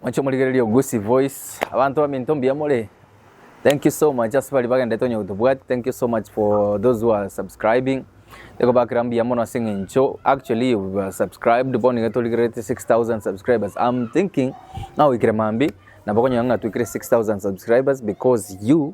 Moche morigererie Ogusi voice. Abanto baminto mbuya more? Thank you so much ase baria bagendete onye gotobwati. Thank you so much for those who are subscribing. Ekobakera mbuya mono ase eng'encho actually you were subscribed bono iga torigererete 6000 subscribers. I'm thinking ng'a goikera mambia nabo okonyora ng'a twikire 6000 subscribers because you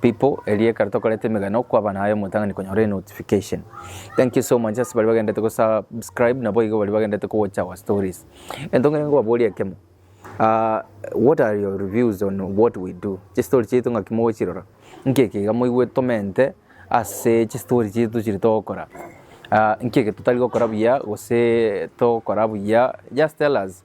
People eria ekero tokoreta emegano kwaba naye omotang'ani konyora enotification thank you so much ase bari bagendete go subscribe nabo igo bari bagendete ko watch our stories ento ngere ngobaboria ekemo uh, what are your reviews on what we do chistori chiaito ng'aki mogochirora nkeki iga moigwe tomente ase chistori chiaito chiri togokora uh, nkeki totari gokora buya gose togokora buya just tell us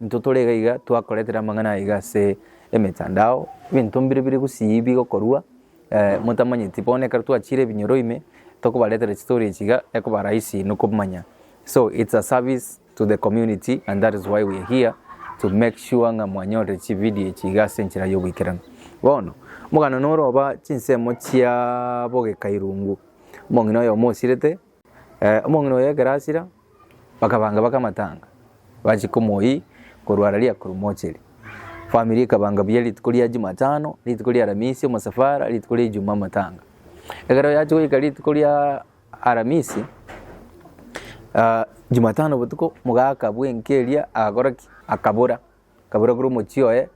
Intwe tore iga iga twakoretera amang'ana aiga ase emetandao, ebinto mbire bire gusii bigokorwa motamanyeti. Bono ekero twachiire ebinyoro ime, tokobaretera chistory echi iga ekoba rahisi inwe komanya. So it's a service to the community and that is why we are here to make sure ng'a mwanyorire chividio echi iga ase enchera y'ogoikeranu. Bono, omogano noroba chinsemo chiaa bogeka irungu, omong'ina oyomo osirete. Omong'ina oye Egerasira bakabanga bake amatanga, bachia komoyia korwa ara ria korwa mocheri. Famiri ekabanga buya rituko ria Jumatano, rituko ria Aramisi omosafara, rituko ria Ijumaa amatanga. Ekero yachia goika rituko ria Aramisi, Jumatano botuko mogaka bw'enka eria agakora ki? Akabora. Kabura korwa omochie oye,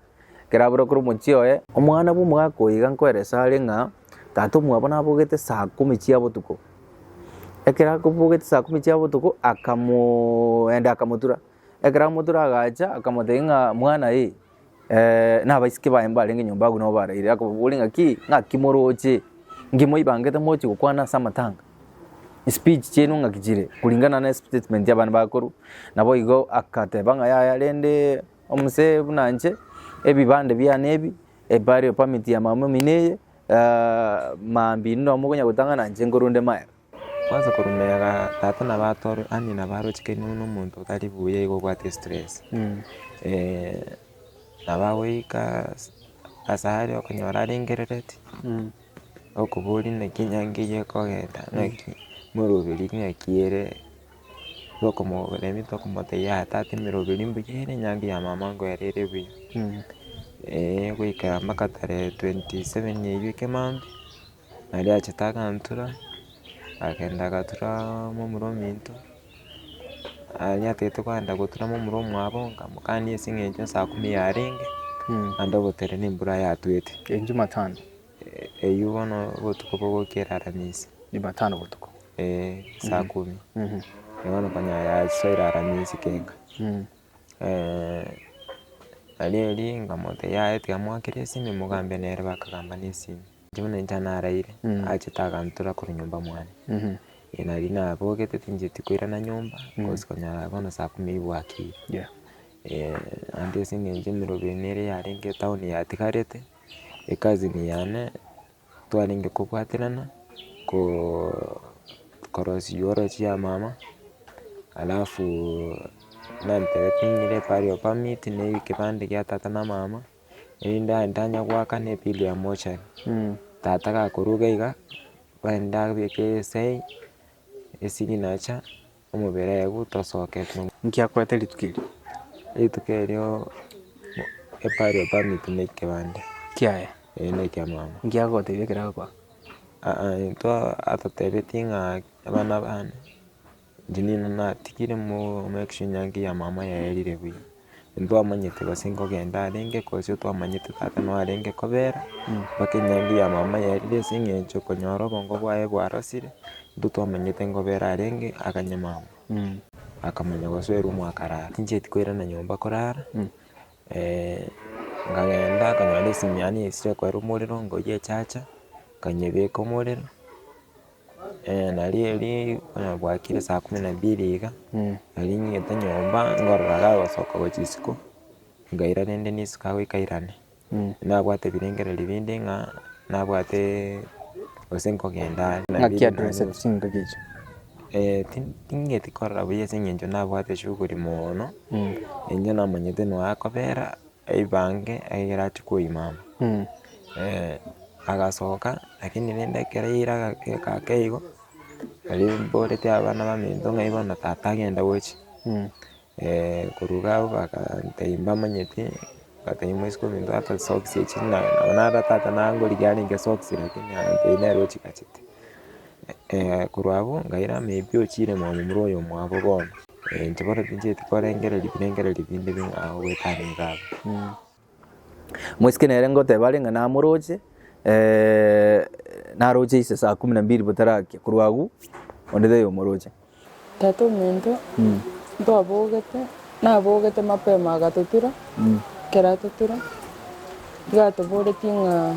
kerabura korwa omochie oye. Omwana bw'omogaka oyo iga nkoeresa are ng'a tata omwabo nabogete saa kumi chia botuko. Ekero akobogete saa kumi chia botuko akamoenda akamotura, ekero amotura agacha akamotebia ng'a mwana ee na abaiseke baye mbarenge nyomba agwo nigo baraire, akababori ng'aki, ng'aki moroche? Inki mwaibangete mochi gokwana ase amatanga? Speech chiaino ng'aki chire kuringana ne statement ya abana bakuru. Nabo igo agateba ng'a yaya rende omosee buna inche ebibande biane ebi, eburial permit ya mama omino eye, ah, maambia inwe nonya mokonya gotang'ana inche nkorunde magega. Kwanza korumera tata nabo atore yaani nabo arochekererie buna omonto otari buya igo obwate estress. Nabo agoika asare okonyora arengerereti. Okoboria naki enyango eye ekogenda naki moroberi naki ere tokomorebi tokomotebia aa tata emeroberi mbuya ere enyango ya mama ango ere ere buya eeh goikera mpaka tarehe twenty seven eywo ekemambia naende achete agantura agenda agaturaa momura ominto. anyatete kogenda gotuna momura omwabo nkamokania ase eng'encho saa kumi yarenge, naende ogoterera embura yatwete. Ejumatano. Eyio bono obotuko bogokera aramisi. Jumatano botuko. Eeh, saa kumi. Bono konya yasoire aramisi kenga. Aria erio nkamotebia yaya tiga mwakere esimi mogambe nere bakagamba na esimi. Inche buna inche naraire achete agantora korwa nyomba mwane. Nari nabogete tinchieti koirana nyomba cos konyara bono saa kumi aye bwakire. Naende ase eng'encho emerero ere yarenge etown yatigarete ekazini yane. twarenge kobwaterana korosia oywo orosie yamama, alafu nantebete ng'ire pahali ya permit ne ekepande kia tata na mama, erinde aye ntanye goaka ne bill ya mochari. Tata gakoruga iga, barende abeke esain, esignature. omobere eye gotasooketi nonya. Nki akoete rituko erio? Rituko erio epari ya permit na ekebande. Kiaye? Ee na ekia mama. Nki agogotebia ekero agokoa? Aa intwe atotebetie ng'a abana bane, engineer natigire mo make sure ng'a enyangi ya mama yaerire buya. Intwamanyete gose nkogenda arenge, gose otwamanyete tata noo arenge kobera, mpaka enyaingo ya mama yarire ase eng'encho okonyora obongo bwaye bwarosire, intwe twamanyete nkobera arenge akanye mama, akamanya gosoerwa mwakarara. Tinchieti koirana nyomba korara, nkagenda nkanyora esimi yane yesire koera omorero ngoyia echacha, nkanyebeka omorero. Eeh nario erio bono bwakire saa kumi na mbili iga, nari ng'ete nyomba ngorora gagosoka gwa chisiko, nkaira rende nesuka goika irane, nabwate ebirengererio binde ng'a nabwateeee gose nkogenda are. Naki adreseti chingaki echio? Eeh ti- ting'eti korora buya ase eng'encho nabwate shughuli moono, eng'e namanyete noo akobera Aibange ekero achia koimama, agasoka lakini rende ekero yaira agakeka ake igo, aria mborete abana baminto ng'ai bono tata agenda gocha, korwa iga abwo bakantebi mbamanyeti, batebiwa isiko ominto ata socks echi na nabo nara tata nangorigia arenge socks lakini agantebi nere ochigachete, korwa abwo nkaira maybe ochire mambura oyomwabo bono. Ebinto bono bincheti korengereria birengererio binde bing'a agwo goetaniga abwo. Mwesike nere ngoteba are ng'a namoroche, eh, naroche ise saa kumi na mbili botarakia, korwa agwo onde taiyo omoroche. Tata ominto ntwabogete, nabogete mapema agatotura, ekero atotura iga atoboretie ng'a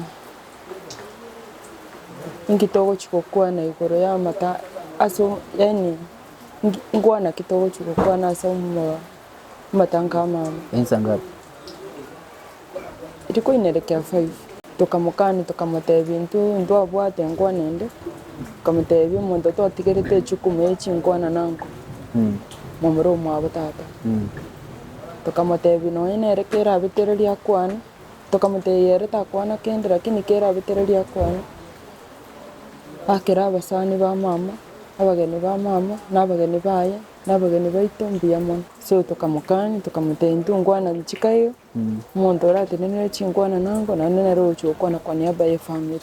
inki togochi gokwana igoro y'amata ase o- yaani. Nkwana ki togochia gokwana ase amatango a mama? Ensa ngapi? Riko ine reke ya five. Tokamokania tokamotebia intwe ntwabwate nkwana ende, tokamotebia omonto twatigerete echukumu ya chinkwana nanko, momura omwabo tata. Tokamotebia nonye nere kerabetererie akwane, tokamotebia ere takwana kende lakini kerabetererie akwane. Akera abasani ba mama, abageni ba mama, na abageni baye, na abageni baito mbuya mono. So tokamokania, tokamotebia intongwana chiko igo, omonto oratenenere chingwana nango, naende nere ogochia gokwana kwa niaba ye family.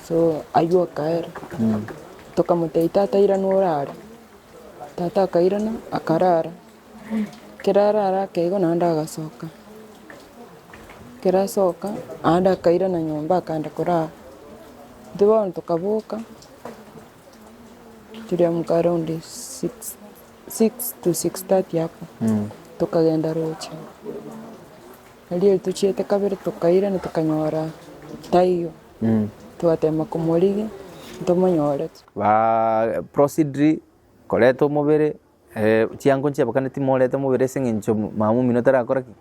So aywo akaera, tokamotebia tata irana orare, tata akairana akarara. Kero ararake igo naende agasoka, kero asoka naende akairana nyomba akagenda korara. Intwe bono tokaboka toriamka around six six to six thirty hapo tokagenda roche. Erio tochiete kabere tokairana tokanyora taiyo, twatema komorigia ntomonyorete. Ba proceed koreta omobere Chiango nchiabakane timoorete mobere ase eng'encho mama omino tarakora ki?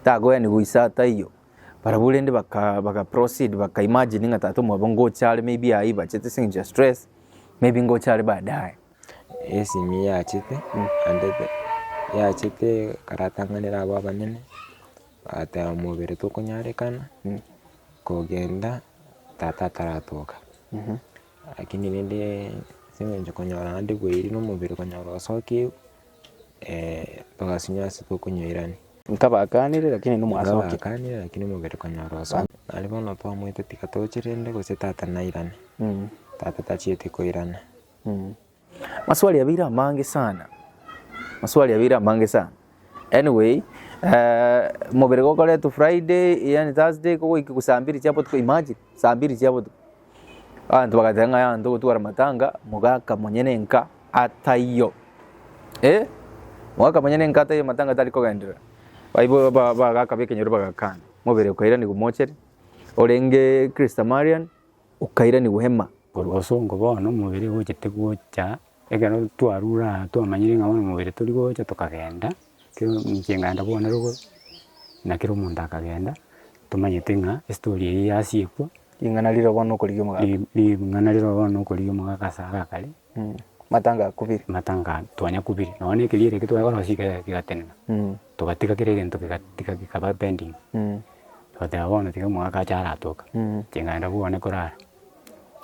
Takoyani goisa taiyo. Barabwo rende baka baka proceed baka imagine ng'a tata omwabo ngocha are maybe aye aibachete ase eng'encho ya stress, maybe ngocha are baadaye. Esimi yachete andete yachete karatang'anera abwo abanene, agateba mobere tokonyarekana kogenda tata ataratoka. Lakini rende ase eng'encho konyora naende bweeri na omobere konyora osokigwe, togasinywa ase tokonywa irani. Nkabakanire, lakini inwe mwasokire. Nkabakanire, lakini omobere konyora osokigwe. Aria bono twamoete tiga toche rende gose tata nairane, tata tachieti koirana. Maswali abeire amange sana, maswali abeire amange sana. Anyway, eh, mobere gokoretwe Friday, yaani Thursday, kogoika iko saa mbiri chia botuko, imagine, saa mbiri chia botuko. Abanto bagateba ng'a yaya ntogotwara matanga, mogaka monyene enka ataiyo. Eh, mogaka monyene enka ataiyo matanga tari kogenderera. Baibo ba- bagaka ba ekenyoro bagakana. Mobere okairanigwa omochere, orenge Christamarian, okairanigwa hema. Korwa osongo bono omobere gochete gocha, ekero twarure aa twamanyire ng'a bono omobere tori gocha tokagenda, kero inche nkagenda bono rogo, na kera omonto akagenda, tomanyete ng'a estori eye yasiekwa. Ring'ana riroba bono nokorigia omogaka. Ring'ana riroba bono nokorigia omogaka ase agakare. Matanga akubire. Matanga twanya kubire nonya ekeria eke twakorosia eke kegatenena togatiga kera egento kegatiga kekaba pending togoteba bono tiga omogaka ache aratoke inche ng'enda bwane korara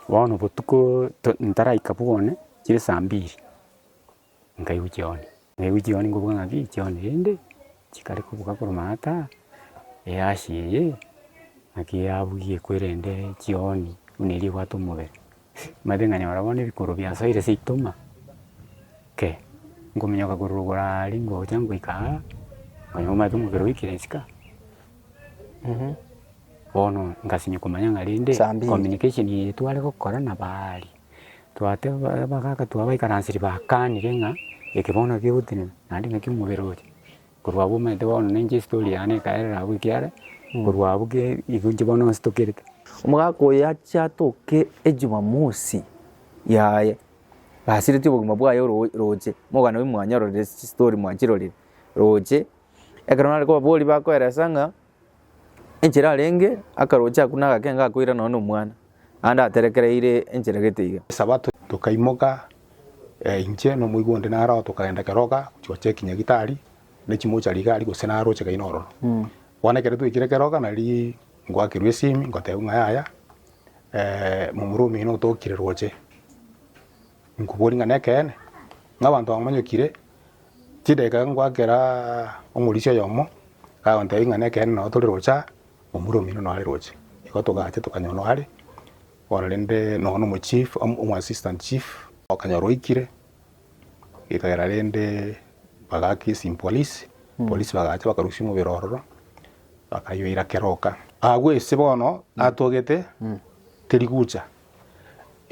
bono botuko to ntaraika bwane chire saa mbiri nkaigwa chioni. Naigwe chigoro nikoboka ng'a pi chione rende, chikare kobuga korwa maata aa, eaasi eye, naki yabugia ekwerende chioni buna eria ebwate omobere. Omanyete ng'a nyora bono ebikoro biasoire ase itoma, ke, nkominyoka korwa rogoro aaria ngocha ngoika aa, nkonye omanyete omobere oikire isiko aa, bono ngasimia komanya ng'a rende communication eye tware gokora nabaaria. twateba bagaka twabaikaranseria bakanire ng'a eke bono naki ogotenena naende naki omobere oye. Korwa abwo omanyete bono ninche estori yane ekaerera abwo ekiagera korwa abwo ke igo inche bono nstokerete. Omogaka oyo ache atoke ejumamosi yaye basiretie obogima bwaye oro roche, mogana oyo mwanyororire chistori mwachirorire roche, ekero nare kobaboria bakoelesa ng'a Enchera arenge akaroche akwo na agakenga akoira nonya nomwana, naende aterekereire enchera gete iga. Esabato tokaimoka inche na omoigwa onde naro tokagenda keroka gochia gocha ekinyaritari ne chimochari iga aria gose naroche kaina ororo. Bono ekero twaikire keroka nari ngoakerwa esimi ngotebiwa ng'a yaya momura omoino otokire roche. Inkoboria ng'a nekeene, ng'a abanto bamonyokire, chidakika ngoa kera omorisia oyomo agontebia ng'a nekeene nao tore roche aa, omura omino nao are roche. Igo togacha tokanyora nao are, bono rende nonye na omochief omo omo assistant chief okanyora oikire, ekagera rende bagaaka ase empolice, polisi bagacha bakarusia omobere ororo, bakayoira keroka. Agwo ase bono atogete terigucha.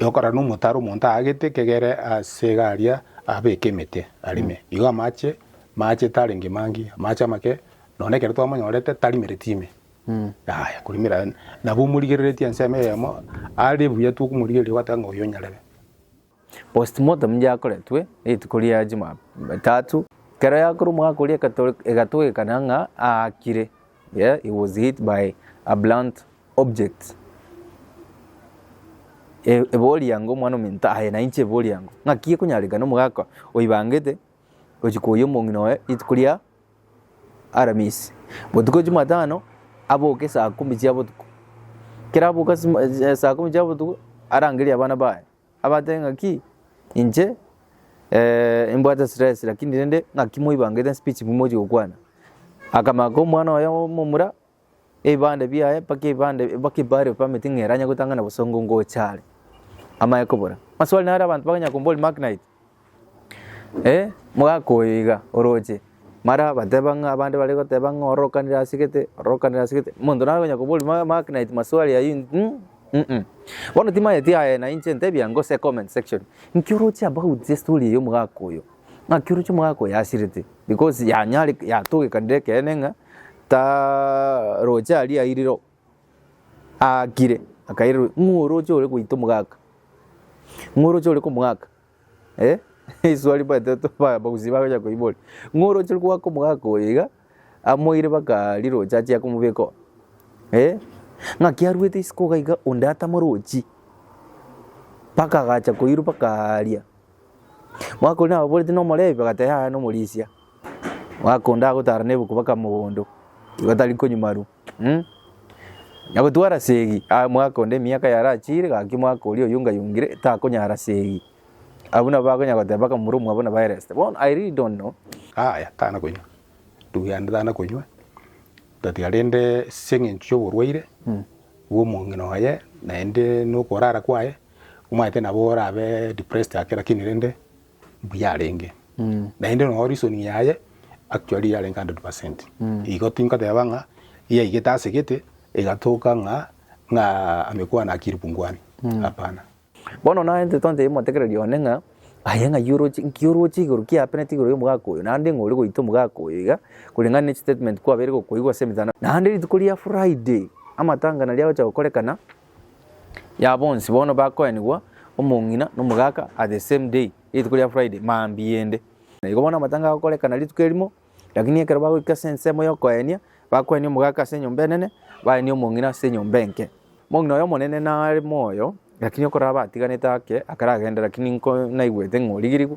Yokorana omotaro omonto aagete ekegere ase egaria abeke emete arime. Igo amache mache tarenge mangi, amache amake nonye ekero twamonyorete tarimereti ime. Yaya korimera nabo omorigereretie ensemo eyemo are buya tokomorigereria gwateba ng'a oyo nyarebe. Postmortem yakoretwe rituko ria Jumatatu ekero yakorwa omogaka oria egatogekana ng'a aakire, yeah, he was hit by a blunt object. Eba oriango omwana ominto, aye nainche eba oriango. Ng'aki gekonyarekana omogaka oibangete gochia koyia omong'ina oye rituko ria Aramisi, botuko Jumatano aboke saa kumi chia botuko. Ekero aboka saa kumi chia botuko arangerie abana baye. Abate ng'aki inche imbwate stress lakini rende ng'aki moibangete speech momochi gokwana. Akamaka omwana oye omomura ebibande biaye mpaka ebibande mpaka ebari of permit ng'a eranye gotang'ana bosongo ngocha are amaye kobora. Maswali naro abanto bakonyara komboria Mark Knight. Ee, mogakoe iga, oroche. Mara bateba ng'a abande bare goteba ng'a ororokanire ase gete, ororokanire ase gete. Omonto nare konya koboria ma- make night maswali ayio in- mm, mm. Bono timanyeti aye na inche ntebia ngose comment section, nki oroche about estory eye omogaka oyo? Ng'aki oroche omogaka oyo asirete? Because yanyare yatogekanire ekeene ng'a ta roche aria airire oo, aakire akairerwa ng'oroche ore goita omogaka, ng'oroche ore komogaka. Eh, iswa ribaete to ba- bagusii bagocha koiboria. Ng'a oroche rwaka omogaka oyo iga, amoire baka riroche achia komobeka oo. Eh, ng'a kiaruete isiko iga iga onde atama rochi, baka agacha koirwa baka aaria. Omogaka oria nabo aboreti nomorebi, bagateba yaya nomorisia. Omogaka onde agotara nebuku baka mogondo, igo tari konywa marwa. Na gotwara segi aa mwaka onde emiaka yarachire, gaki mwaka oria oyongayongire takonyara segi. Abwo nabo bakonya goteba baka momura omwabo nabo aireste. Bono I really don't know. Aya tana konywa ndugu yane tana konywa tatia rende seng'encho y'oborwaire bw'omong'ina oye naende nokorara kwaye omanyete nabo orabe depressed ake lakini rende buyarenge, naende nonya reasoning yaye actually yarenge hundred percent, igo tinkoteba ng'a yaigete asegete egatoka ng'a ng'a amekwano akiri punguani, hapana. Bono naye intwe twantete omotekereria one ng'a aye ng'ai oroche nki oroche igoro ki happenete igoro y'omogaka oyo, naende ng'a ore goita omogaka oyo iga, koreng'ana ne chistatement kwabeire gokoigwa ase emetanda. Naende rituko ria Friday, amatanga naria agocha gokorekana, ya bonsi bono bakoenigwa omong'ina na omogaka at the same day, rituko ria Friday, mambia ende. Na igo bono amatanga agokorekana rituko erimo, lakini ekero bagoika ase ensemo y'okoenia, bakoenia omogaka ase enyomba enene, baenie omong'ina ase enyomba enke. Omong'ina oyo omonene nare moyo, lakini okorabatiganete ake akarageenda, lakini nko naigwete ng'a origirigwe.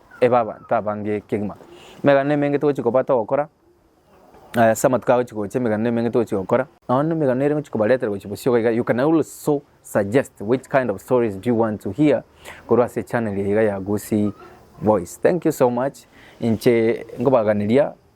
ebe abanto abange kegima. Emeganda emenge togochi kobata ogokora ase amatuko agochi gocha emeganda emenge togochi gokora. Nonya na emeganda ere ngochi kobaretera gochi bosio iga iga you can also suggest which kind of stories do you want to hear korwa ase channel eye iga ya Gusii Voice. Thank you so much inche nkobaganeria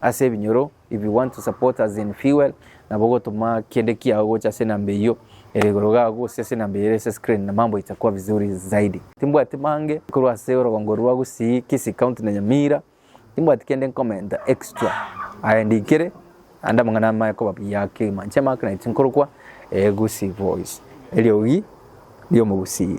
ase ebinyoro if you want to support us in fuel nabo gotuma kende kiao gocha ase enamba eyio ere igoro gago gose ase enamba eyio ere ase screen na mambo itakuwa vizuri zaidi. Timbwati mange korwa ase orogongo rwa Gusii, Kisii County na Nyamira, timbwati kende nkomenta extra aye ndikire naende amang'ana amaya koba buya kegima inche Mark naye tinkorokwa eh, Gusii voice, eriogi riomogusii.